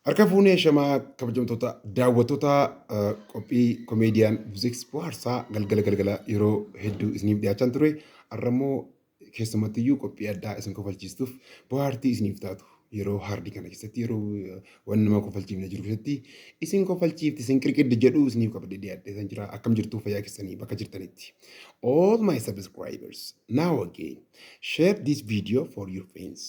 Harka fuunee shamaa kabajamtoota daawwattoota qophii komeediyaan muuziks bohaarsaa galgala galgala yeroo hedduu isiniif dhiyaachaan ture. Har'a immoo keessumatti iyyuu qophii addaa isin kofalchiistuuf bohaartii isiniif taatu yeroo haardii kana keessatti yeroo waan nama kofalchiifne jiru keessatti isin kofalchiifti isin qirqiddi jedhu isiniif qabdee dhiyaadhee san jira akkam jirtuu fayyaa keessanii bakka jirtanitti. All my subscribers now again share this video for your friends.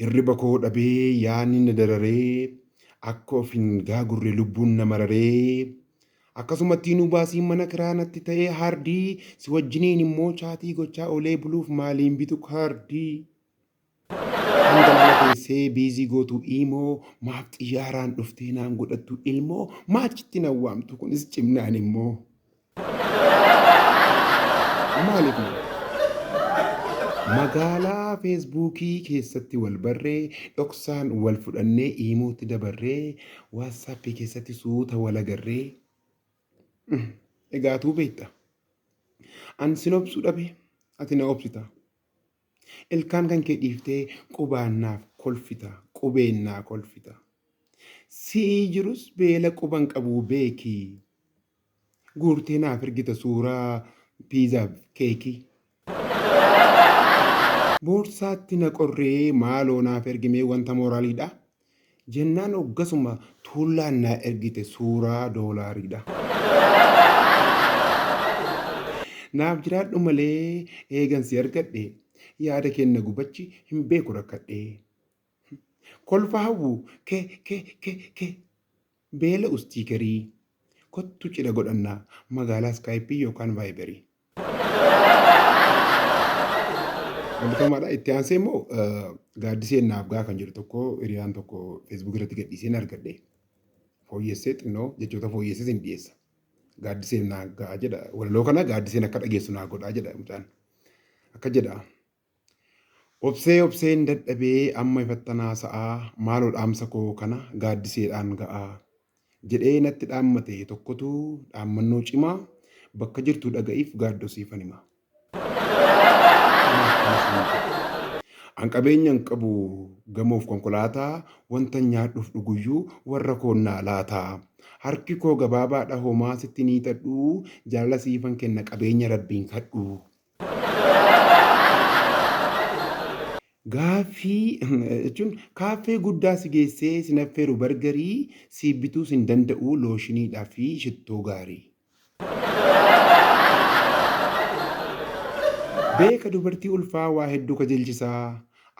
Hirriba koo dhabee yaanni na dararee akka of hin gaagurre lubbuun na mararee akkasumattii nu baasii mana kiraa natti ta'ee haardii si wajjiniin immoo chaatii gochaa olee buluuf maaliin bitu kaardii kan galgala teessee biizii gootu iimoo maaf xiyyaaraan dhuftee naan godhattu ilmoo maaf chitti na waamtu kunis cimnaan immoo Maaliif malee? Magaalaa feesbuukii keessatti wal barree, dhoksaan wal fudhannee iimootti dabarree, waatsaappii keessatti suuta wal agarree. Mm, Egaa atuu beekta. An sin obsuu dhabe, ati na obsita. Ilkaan kan kee dhiiftee qubaan naaf kolfita, qubeen naa kolfita. Si'ii jirus beela quban qabuu beekii. Guurtee naaf ergita suuraa piizaaf keekii. Boorsaatti na qorree maaloo naaf ergimee wanta mooraaliidha. Jennaan hoggasuma tuullaan naa ergite suuraa doolaariidha. Naaf jiraadhu malee eegan si argadhe yaada keen na gubachi hin beeku rakkadhe. Kolfa hawwu ke ke ke ke. Beela ustii garii. Kottu cidha godhanna magaalaa skype yookaan viberii. Eebbifamaadha. Itti aansee immoo gaaddiseen naaf gaa kan jedhu tokko hiriyaan tokko feesbuuk irratti gadhiiseen argadhe. Fooyyessee xinnoo jechoota fooyyessee sin dhiyeessa. Gaaddiseen naaf gaa jedha. Walaloo kana gaaddiseen akka dhageessu naa godhaa jedha mucaan. Akka jedha. Obsee obseen dadhabee amma ifattan haasa'aa maaloo dhaamsa koo kana gaaddiseedhaan ga'aa. Jedhee natti dhaammate tokkotu dhaammannoo cimaa bakka jirtuu dhaga'iif gaaddoo siifan hima. Maaf kana siin jedhe? An qabeenya hin qabu gamoof konkolaataa wantan nyaadhuuf dhuguyyuu warra koon naa laataa. Harki koo gabaabaadha homaa sitti hin hiixadhuu jaalala siifan kenna qabeenya rabbiin kadhuu. Gaaffii, jechuun kaaffee guddaa si geessee sin affeeru bargarii siif bituu sin danda'uu looshiniidha fi shittoo gaarii. Beeka dubartii ulfaa waa hedduu kajelchisaa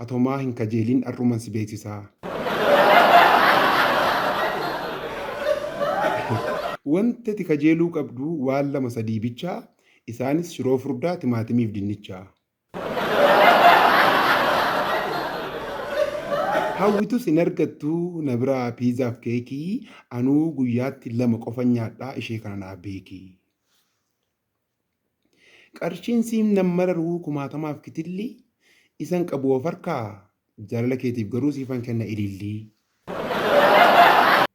atomaa hin kajeelin ar'uman si beeksisaa. Wanti ati kajeeluu qabdu waan lama sadii bichaa. Isaanis shiroo furdaa, timaatimiif dinnicha. Hawwitus hin argattu na biraa piizaaf keekii anuu guyyaatti lama qofan nyaadhaa ishee kana naa beekii. Qarshiin siim nan mararuu kumaatamaaf kitilli isan qabu of harkaa jaalala keetiif garuu siifan kenna ilillii.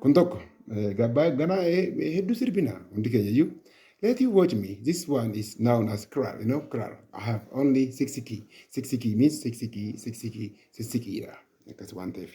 Kun tokko gabbaa ganaa hedduu sirbina hundi keenya iyyuu. Let you watch me. This one is known as krar. You know krar. I have only six key. Six key means six key, six key, six key dha. Akkas waan ta'eef.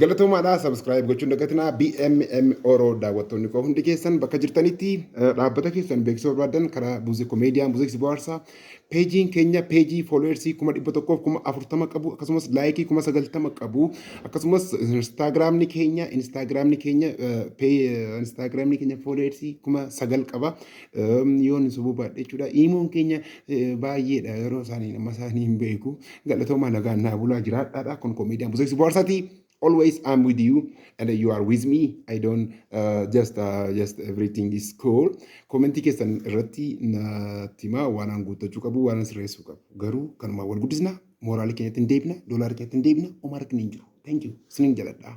Galatoomaadhaa subscribe gochuun dagatinaa BMM Oro daawwattoonni koo hundi keessan bakka jirtanitti eh, dhaabbata keessan beeksisuu barbaadan karaa Buuzeko Meediyaa Buuzeko Bohaarsaa peejiin keenya peejii fooloowersii kuma dhibba tokkoof kuma afurtama qabu akkasumas laayikii kuma sagaltama qabu akkasumas instaagiraamni keenya instaagiraamni keenya eh, pee- eh, instaagiraamni keenya fooloowersii kuma sagal qaba yoo ni sobuu baadhe jechuudha. Iimoon keenya baay'eedha yeroo isaanii nama isaanii hin beeku. Galatoomaa nagaan naa bulaa jiraadhaadha kun komeediyaan buseessi bohaarsaati. Always I'm with you and you are with me. I don't uh, just uh, just everything is cool. Komentii keessan irratti natti himaa waan an guuttachuu qabu waan an sirreessuu qabu. Garuu kanumaan wal guddisna mooraalii keenyatti hin deebina doolaara keenyatti hin deebina homaa rakkina hin jiru. Thank you. Isinin jaladhaa.